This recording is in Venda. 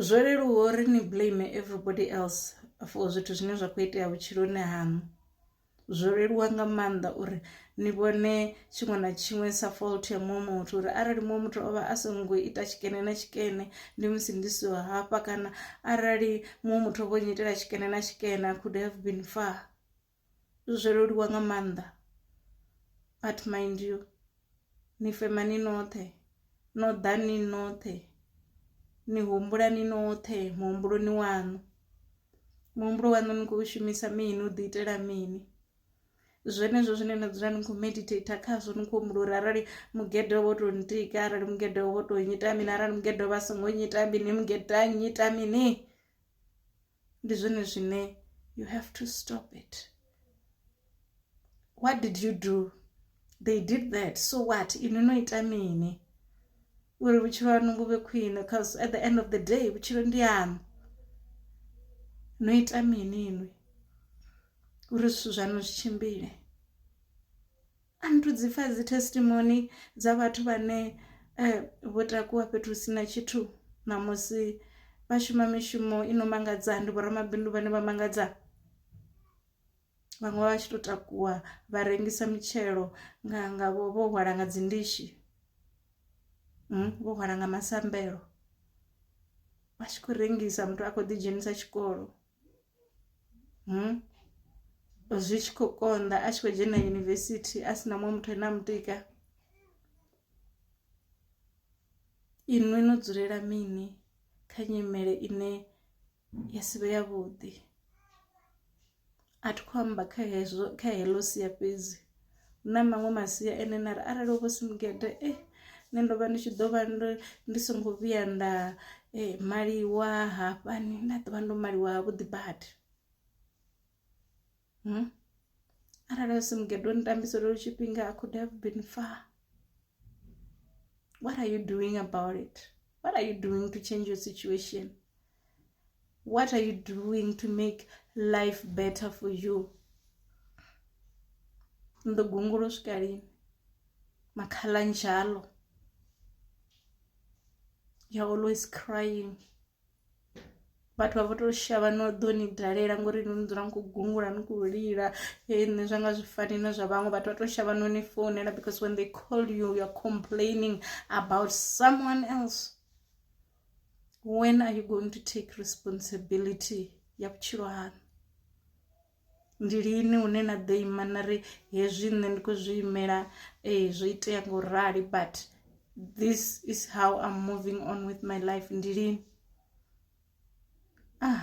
Zwo leluwa uri ni blame everybody else for zwithu zwine zwa kho itea vhutshiloni haṋu, zwo leluwa nga maanḓa uri ni vhone tshiṅwe na tshiṅwe sa fault ya muṅwe muthu uri arali muṅwe muthu o vha a songo ita tshikene na tshikene ndi musi ndi siho hafha kana arali muṅwe muthu o vho nnyitela tshikene na tshikene I could have been far. Zwo leluwa nga maanḓa but mind you ni fema ni noṱhe no ḓa ni noṱhe ni humbula ni noṱhe muhumbuloni waṋu. Muhumbulo waṋu ni kho shumisa mini u ḓi itela mini zwenezwo zwine na dzula ni kho meditator khazwo ni kho humbula uri arali mugede wo to ntika arali mugede wo to nnyita mini arali mugede vha songo nnyita mini mugede a nnyita mini. ndi zwone zwine you have to stop it what did you do they did that so what inwi no ita mini uri vhutshilo hanu vhu vhe khwine because at the end of the day vhutshilo ndi hanu no ita mini inwi uri zwithu zwaṋu zwi tshimbile a ni thu dzi pfa dzi testimony dza vhathu vhane eh, vho takuwa fhethu si na tshithu ṋamusi vha shuma mishumo i no mangadza ndi vhoramabindu vhane vha mangadza vhaṅwe vha tshi tou takuwa vha rengisa mitshelo nga nga vho vho hwala nga dzi ndishi mm, vho hwala nga masambelo vha tshi khou rengisa muthu a khou ḓi dzhenisa tshikolo hmm? zwi tshi khou konḓa a tshi khou dzhena yunivesithi a si na muṅwe muthu ane a mutika inwi no dzulela mini kha nyimele ine ya si vhe yavhuḓi a thi khou amba kha hezwo kha heḽo sia fhedzi na maṅwe masia ene na ri arali hovho si mugede eh nṋe ndo vha ndi tshi ḓo vha ndi songo vhuya nda eh, maliwa hafhani nda ḓovha ndo maliwa ha vhuḓi badi hmm? arali hu si mugede wo nitambisa lolo tshifhinga i could have been far what are you doing about it what are you doing to change your situation what are you doing to make life better for you ni ḓo gungula u swika lini makhala njalo you're always crying vhathu vha vho to shavha no ḓo ni dalela ngori no ni dzula ni khou gungula ni khou lila hei nṋe zwa nga zwi fani na zwa vhaṅwe vhathu vha to shavha no ni founela because when they call you you're complaining about someone else when are you going to take responsibility ya vhutshilo hanu ndi lini hune na ḓo ima na ri hezwi nṋe ndi khou zwi imela ee zwo itea nga u rali but this is how im moving on with my life ndi lini ah